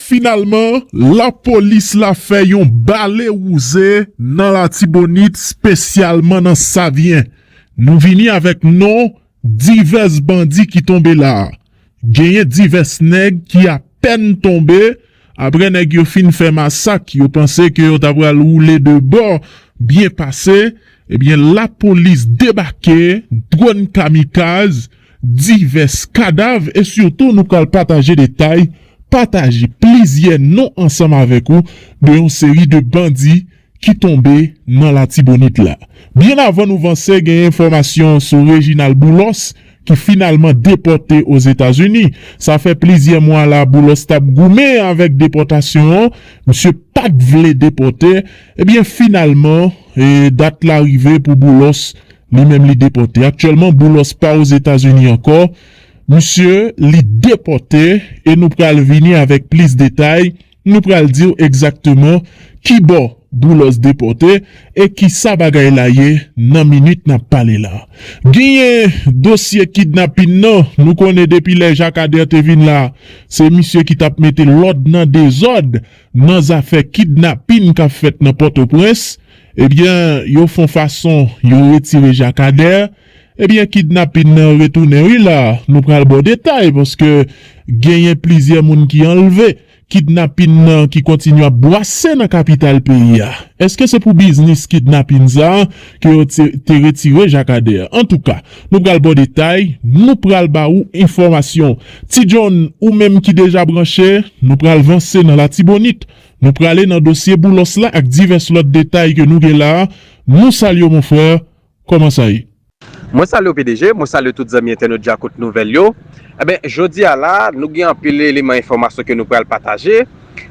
Finalman, lapolis la fè yon bale wouze nan Latibonit spesyalman nan Savyen. Nou vini avèk non divès bandi ki tonbe la a. Genyen divès nèg ki apèn tonbe apre nèg yo fin fè masak yo panse ke yo ta pral woule de bò byen pase ebyen lapolis debake dwòn kamikaz divès kadav e sitou nou pral pataje detay, pataje plizyè non ansanm avèk ou de yon seri de bandi ki tonbe nan Latibonit la. Byen avan nou vanse gen enfòmasyon sou Reginald Boulos ki finalman depòte Ozetazini. Sa fè plizyè mwa la Boulos t ap goumen avèk depòtasyon an, misye pa t vle depòte, ebyen finalman dat la rive pou Boulos Li menm li depòte. Aktyèlman Boulos pa Ozetazini ankò. Misye li depòte e nou pral vini avèk plis detay, nou pral di w egzakteman kibò Boulos depòte e kisa bagay la ye nan minit n ap pale la. Genyen dosye kidnapin nan, nou konnen depi lè Jakadè te vin la, se misye ki t ap mete lòd nan dezòd nan zafè kidnapin k ap fèt nan Pòtoprens. Ebyen yo fon fason yo retire jakader ebyen kidnapin nan retounen wi la nou pral baw detay paske genyen plizyè moun ki anlve kidnapin nan ki kontinye ap bwase nan kapital peyi a eske se pou biznis kidnapin sa ke yo te retire jakader antouka nou pral baw detay nou pral ba ou enfòmasyon ti John ou menm ki deja branche nou pral vanse nan latibonit Nou prale nan dosye Boulos la ak divès lòt detay ke nou gen la a. Nou salye w mon frère, kòman sa ye? Mwen salye w pdg, mwen salye tout zanmi entènot Djakout Nouvèl yo. Enben, jodi a la a, nou gen anpil eleman enfòmasyon ke nou pral pataje.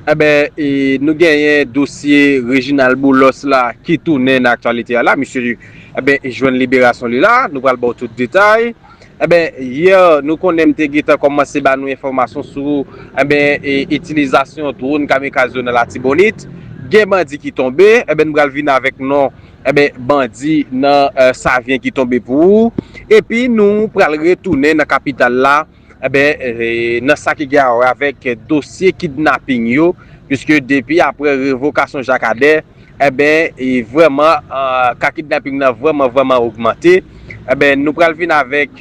Enben, e nou genyen dosye Reginald Boulos la ki tounen nan aktyalite a la. Misye, enben, jwenn liberasyon li la a. Nou pral ba w tout detay. Enben, yè nou konnen m te gentan kòmanse ba nou enfòmasyon sou enben itilizasyon dwòn kamikaz yo nan Latibonit. Gen bandi ki tonbe, enben m pral vin avèk non enben bandi nan Savyen ki tonbe pou ou. Epi nou pral retounen nan kapital la enben nan sa ki gen awè avèk dosye kidnaping yo, piske depi aprè revokasyon Jakadè. Enben vrèman ka kidnapping nan vrèman vrèman ogmante enben nou pral vin avèk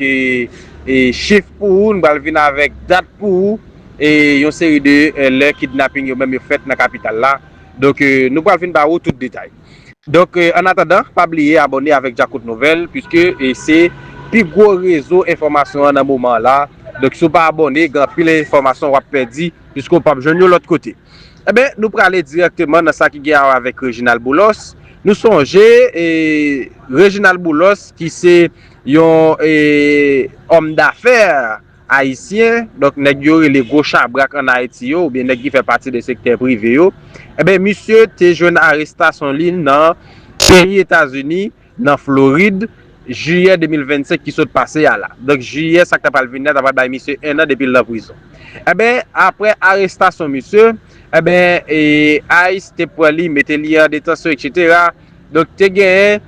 chif pou ou nou pral vin avèk dat pou ou e yon seri de lè kidnapping yo menm yo fèt nan kapital la donk nou pral vin ba ou tout detay donk an atandan pa bliye abòne avèk Djakout Nouvèl piske se pi gwo rezo enfòmasyon an nan moman an la donk si w pa abòne gen anpil enfòmasyon w ap pèdi piske w pap jwenn yo lòt kote. Enben, nou prale dirèkteman nan sa ki gen awa avèk Reginald Boulos. Nou sonje, Reginald Boulos ki se yon òm dafè ayisyen, donk nèg yo rele gwo chabrak an Ayiti yo, oubyen nèg ki fè pati de sektè prive yo, enben misye te jwenn arestasyon li nan peyi Etazini nan Florid, jiyè 2025 ki sot pase a la. Donk jiyè sa k ta pral vini a ta pral bay misye 1 an depi l nan prizon. Enben, aprè arestasyon misye, enben, ice te pran li, mete li an detansyon eksetera. Donk te gen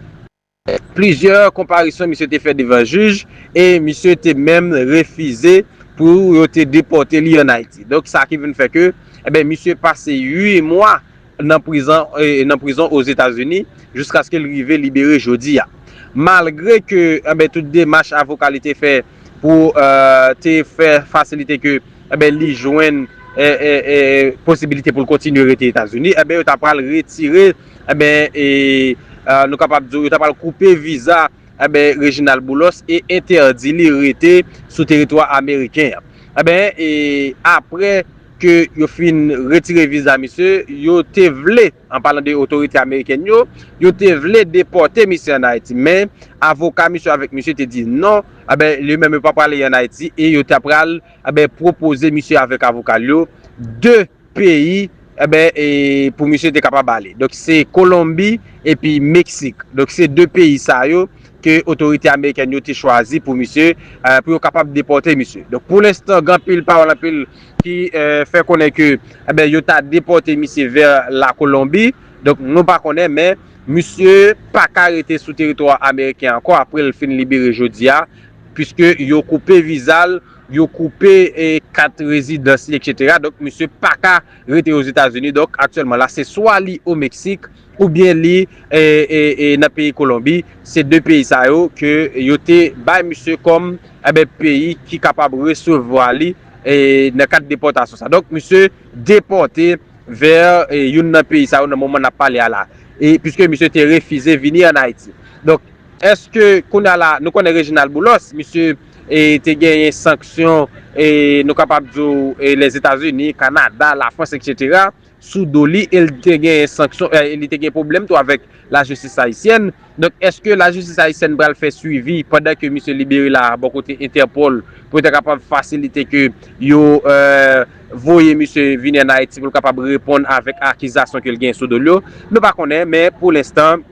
plizyè konparisyon misye te fè devan jij e misye te menm refize pou yo te depòte li an Ayiti. Donk sa ki vin fè ke, enben, misye pase 8 mwa nan prizan nan prizon Ozetazini jiskaske l rive libere jodi a. Malgre ke anben tout demach avoka li te fè pou te fè fasilite ke anben li jwenn posibilite pou l kontinye rete Etazini anben yo ta pral retire anben nou kapab di w yo ta pral koupe viza anben Reginald Boulos e entèdi li rete sou teritwa ameriken an. Anben apre. ke yo fin retire viza misye, yo te vle, an palan de otorite amerikèn yo, yo te vle depòte misye an Ayiti, men avoka misye avèk misye te di non, anben, yo menm yo pa pral an Ayiti, e yo ta pral, anben, pwopoze misye avèk avoka l yo, 2 peyi, anben, e pou misye te kapab ale. Donk se Kolonbi epi Meksik. Donk se 2 peyi sa yo. ke otorite amerikèn yo te chwazi pou misye, pou yo kapab depòte misye. Donk pou lenstan gen anpil pawòl, anpil ki fè konnen ke enben yo ta depòte misye vè la Kolonbi, donk nou pa konnen men misye pa ka rete sou teritwa ameriken ankò apre l fin libere jodi a, puiske yo koupe viza l, yo koupe kat rezidans li etc. Donk misye pa ka rete Ozetazini, donk aktyèlman la se swa li o Meksik, oubyen li nan peyi Kolonbi, se 2 peyi sa yo ke yo te bay misye kòm peyi ki kapab resevwa li nan kad depòtasyon sa. Donk misye depòte vè youn nan peyi sa yo nan moman nap pale a la, puiske misye te refize vini an Ayiti. Donk eske kounye a la, nou konnen Reginald Boulos, misye te genyen sanksyon nou kapab di w Lèzetazini, Kanada, Lafrans etc. sou do li e li te gen sanksyon e li te gen pwoblèm tou avèk lajistis ayisyèn. Donk èske lajistis ayisyèn pral fè swivi pandan ke misye libere la bò kote Interpol pou yo ta kapab fasilite ke yo voye misye vini an Ayiti pou l kapab reponn avèk akizasyon ke l gen sou do l yo? Nou pa konnen men pou lenstan.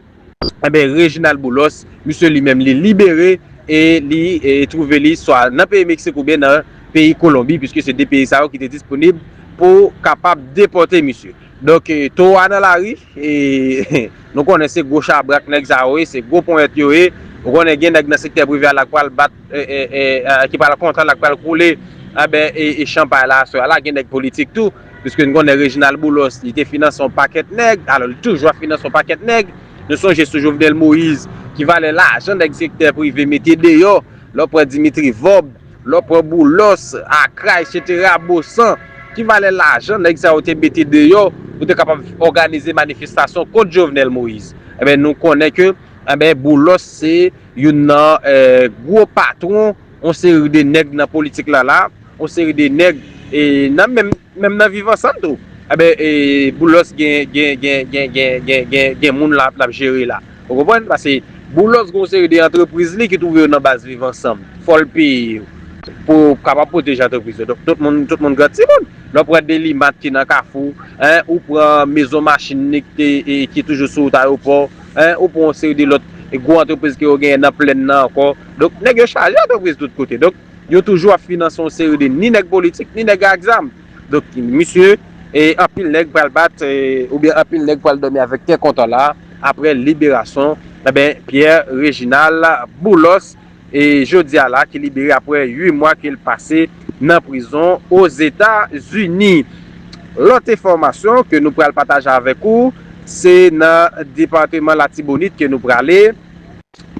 Enben Reginald Boulos, misye li menm li libere e li twouve li swa nan peyi Meksik oubyen nan peyi Kolonbi puiske se 2 peyi sa yo ki te disponib pou kapab depòte misye. Donk towo a nan lari e nou konnen se gwo chabrak nèg sa yo ye, se gwo ponyèt yo ye. Ou konnen gen nèg nan sektè prive a la k pral bat, ki pral kontan, la k pral koule anben chanpay la aswè a la. Gen nèg politik tou. Piske n konnen Reginald Boulos, li te finanse yon pakèt nèg, alò li toujou ap finanse yon pakèt nèg. Nou sonje sou Jovenel Moïse, ki valè lajan nèg sektè prive mete deyò, lè w pran Dimitri Vorbe, lè w pran Boulos, Acra, esetera, Bosan, ki valè lajan nèg sa yo te mete deyò pou te kapab òganize manifestasyon kont Jovenel Moïse. Enben, nou konnen ke, enben, Boulos se youn nan gwo patwon. On seri de nèg nan politik la la, on seri de nèg nan menm menm nan viv ansanm tou. Enben Boulos gen gen gen gen gen gen gen gen moun la lap jere la. Ou konprann? Pase Boulos gen on seri de antrepriz li ki twouve yo nan baz viv ansanm. Fòl peye yo pou yo kapab pwoteje antrepriz yo. Donk tout moun tout moun gran ti moun. Lè ou pran Delimat ki nan Kafou, hein, ou pran mezon machin li ki te ki toujou sou wout ayopò, hein, ou pran on seri de lòt gwo antrepriz ke yo genyen nan plenn nan ankò. Donk nèg yo chaje antrepriz tout kote. Donk yo toujou ap finanse yon seri de ni nèg politik, ni nèg ak zam. Donk misye, e anpil nèg pral bat, oubyen anpil nèg pral dòmi avèk kè kontan la, aprè liberason, enben Pierre Reginald Boulos, e jodi a la ki libere aprè 8 mwa ke l pase nan prizon Ozeta Zini. Lòt enfòmasyon ke nou pral pataje avèk ou, se nan departeman Latibonit ke nou prale.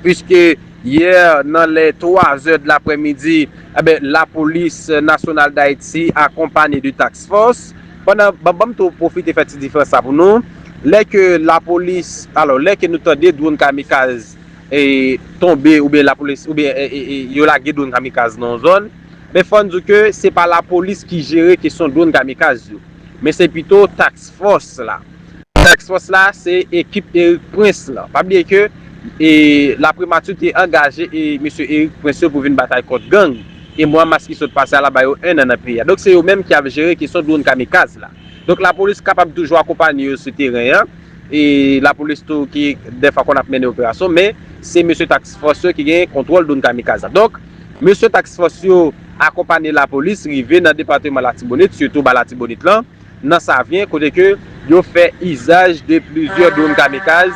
Puiske yè nan lè 3 zè dlapre midi, enben lapolis nasyonal dayiti akonpanye de task force, pandan ban banm tou pwofite fè ti diferans sa pou nou, lè ke lapolis alò lè ke nou tande drone kamikaz e tonbe oubyen lapolis oubyen yo lage drone kamikaz nan yon zòn, men fò n di w ke se pa lapolis ki jere kesyon drone kamikaz yo, men se pito task force la. Task Force la se ekip Erik Prince lan. Pa bliye ke La Primature te angaje mesye Erik Prince yo pou vin batay kont gang e mwa mas ki sot pase a la ba yo 1 an nan peyi a. Donk se yo menm ki ap jere kesyon dwonn kamikaz la. Donk lapolis kapab toujou akonpanye yo sou teren an e lapolis tou ki dèfwa konn ap mennen operasyon men se mesye Task Force yo ki gen kontwòl dwonn kamikaz la. Donk mesye Task Force yo akonpanye lapolis rive nan depateman Latibonit sitou ba Latibonit lan nan Savyen kote ke yo fè izaj de plizyè dronn kamikaz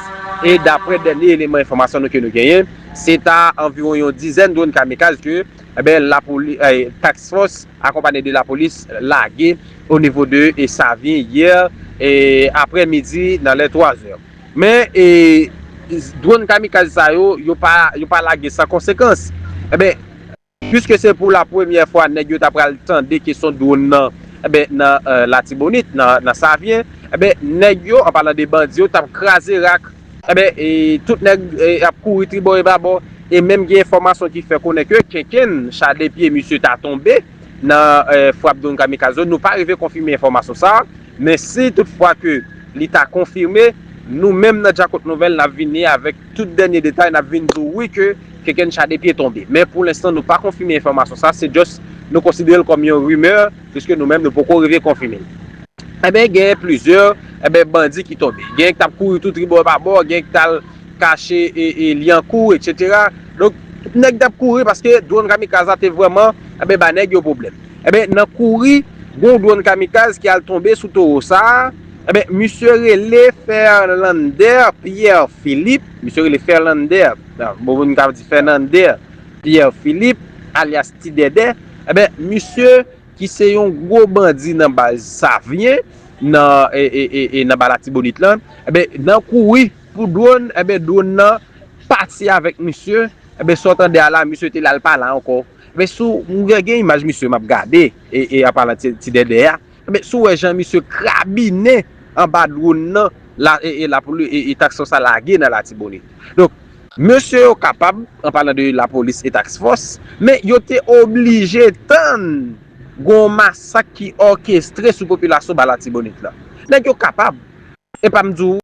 e daprè dènye eleman enfòmasyon nou ke nou genyen se ta anviwon yon dizèn dronn kamikaz ke enben lapoli task fòs akonpanye de lapolis lage o nivo de Savyen yè e aprè midi nan lè 3 zè men e dronn kamikaz sa yo yo pa yo pa lage san konsekans enben. Puiske se pou la premyè fwa nèg yo ta pral tande kesyon dwonn nan, enben nan Latibonit, nan Savyen, enben nèg yo, an palan de bandi yo, t ap kraze rak. Enben, tout nèg ap kouri tribò e babò e menm gen enfòmasyon ki fè konnen ke kenkenn cha de pye misye ta tonbe nan frap dwonn kamikaz yo. Nou pa rive konfime enfòmasyon sa a, men si tout fwa ke li ta konfime, nou menm nan Djakout Nouvèl n ap vini avèk. Tout dènye detay nap vin di w wi ke Kekencha de pye tonbe. Men pou lenstan nou pa konfime enfòmasyon sa, se just nou konsidere l kòm yon rumeur puiske nou menm nou poko rive konfime l. Enben gen plizyè enben bandi ki tonbe. Gen k tap kouri tou tribò e pa bò, gen k tal kache e Lyankou etc. Donk nèg tap kouri paske dronn kamikaz la te vrèman enben ba nèg yo pwoblèm. Enben nan kouri gon dronn kamikaz ki al tonbe sou towo sa. Enben, misye rele Ferlander Pierre Philippe, misye rele Ferlander, bon moun ka di Fernande Pierre Philippe, alyas Ti Dèdè, enben, misye ki se yon gwo bandi nan baz Savyen, nan ba Latibonit lan, enben, nan kouri pou dwòn, enben, dwòn nan pati avèk misye, enben, sa w tande a la, misye te la, l pa la ankò. Enben, sou, mwen gen imaj misye m ap gade, e anpalan Ti Dèdè a, Ebyen si w wè jan misye krabinen anba dronn nan la e la poli e task fòs la lage nan latibonit. Donk mesye yo kapab an palan de lapolis e task fòs men yo te oblije tann gon masak ki òkestre sou popilasyon ba latibonit la. Nèg yo kapab epa m di w.